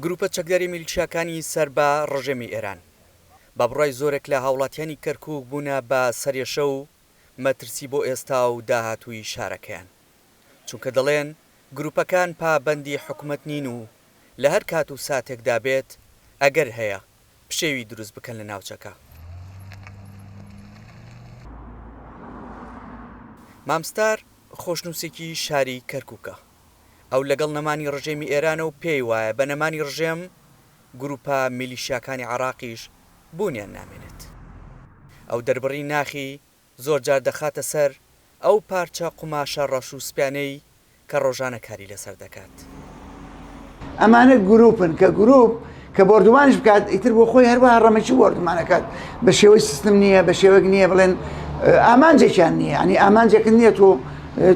گروپە چەکداری میلیشیاکانی سەر بە ڕژێمی ئێران بە بڕای زۆرێک لە هاوڵاتیانی کەرکوک بوونە بە سەرێشە و مەترسی بۆ ئێستا و داهاتووی شارەکەیان چونکە دەڵێن گروپەکان پابەندی حکومەت نین و لە هەر کات و ساتێکدا بێت ئەگەر هەیە پشێوی دروست بکەن لە ناوچەکە. مام ستار خۆشنووسێکی شاری کەرکوکە. ئەو لەگەڵ نەمانی ڕژێمی ئێرانە و پێی وایە بە نەمانی ڕژێم گرووپە میلیشیاکانی عێڕاقیش بوونیان نامێنێت. ئەو دەربڕی ناخی زۆر جار دەخاتە سەر ئەو پارچە قوماشە ڕەش و سپیانەی کە ڕۆژانە کاری لەسەر دەکات. ئەمانە گروپن کە گروپ کە بۆردومانیش بکات ئیتر بۆ خۆی هەروەها ڕەمەکی بۆردومان ئەکات بە شێوەی سیستم نییە بە شێوەیەک نییە بڵێن ئامانجێکیان نییە ینی ئامانجێکن نییە تۆ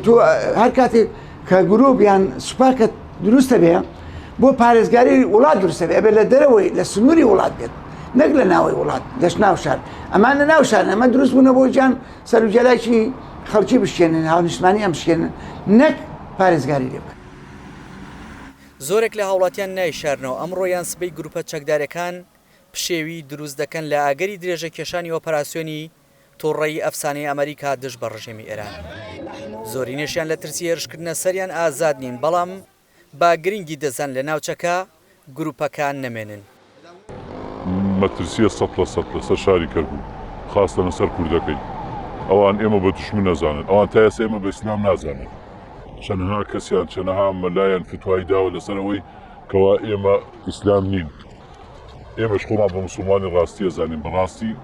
تۆ هەر کاتێک کە گروپ یان سوپاکە دروستە بێ بۆ پارێزگاری وڵات دروستە بێ بێ لە دەرەوەی لە سنووری وڵات بێت نەک لە ناوەی وڵات دەش ناو شار ئەمان لە ناو شار ئەمە دروست بوونە بۆ جان سەرجەلاکی خەڵکی بشێنن هاونیشتمانی ئەم شێنن نەک پارێزگاری لێ بکەن زۆرێک لە هاوڵاتیان نایشارنەوە، ئەمڕۆ یان سبەی گروپە چەکدارەکان پشێوی دروست دەکەن لە ئاگەری درێژە کێشانی ئۆپەراسیۆنی توڕەیی ئەفسانەی ئەمەریکا دژ بە ڕژێمی ئێران. زۆرینەشیان لە ترسی هێرشکردنە سەریان ئازاد نین، بەڵام با گرنگی دەزان لە ناوچەکە، گروپەکان نەمێنن. مەترسیە سەد لە سەد لەسەر شاری کەرکوک خاستە لەسەر کوردەکەی ئەوان ئێمە بە دوشمن ئەزانن ئەوان تا ئێستا ئێمە بە ئیسلام نازانن چەنها کەسیان چەنها مەلایان فتوای داوە لەسەر ئەوەی کەوا ئێمە ئیسلام نین ئێمەش خۆمان بە موسڵمانی ڕاستی ئەزانین بەڕاستی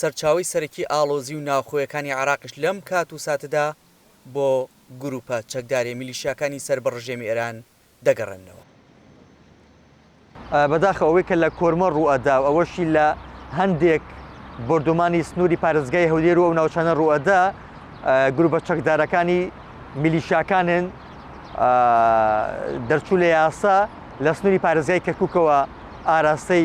سەرچاوەی سەرەکی ئاڵۆزی و ناوخۆیەکانی عێراقیش لەم کات و ساتەدا بۆ گرووپە چەکداریە میلیشیاکانی سەر بە ڕژێمی ئێران دەگەڕێننەوە. بەداخەوە ئەوەی کە لە کۆرمۆر ڕووئەدا و ئەوەشی لە هەندێک بۆردومانی سنووری پارێزگای هەولێر و ئەو ناوچانە ڕووئەدا گرووپە چەکدارەکانی میلیشیاکانن دەرچوو لە یاسا لە سنووری پارێزگای کەرکووکەوە ئاراستەی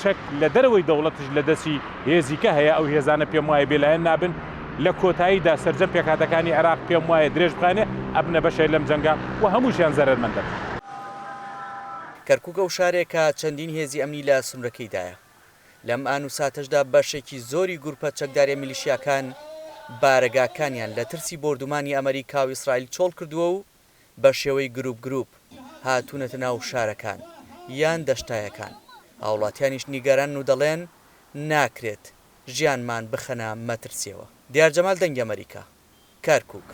چەک لە دەرەوەی دەوڵەتیش لە دەستی هێزی کە هەیە، ئەو هێزانە پێم وایە بێلایەن نابن، لە کۆتاییدا سەرجەم پێکهاتەکانی عێراق پێم وایە درێژ بخەنێ ئەبنە بەشێ لەم جەنگە و هەمووشیان زەرەرمەند دەبن. کەرکوک ئەو شارێکە چەندین هێزی ئەمنی لە سنورەکەیدایە. لەم ئان و ساتەشدا بەشێکی زۆری گروپە چەکداریە میلیشیاکان بارەگاکانیان لە ترسی بۆردومانی ئەمەریکا و ئیسرائیل چۆڵ کردووە و بە شێوەی گروپ گروپ هاتوونەتە ناو شارەکان یان دەشتایەکان، هاوڵاتیانیش نیگەرانن و دەڵێن، ناکرێت ژیانمان بخەنە مەترسیەوە. دیار جەمال دەنگی ئەمەریکا، کەرکوک.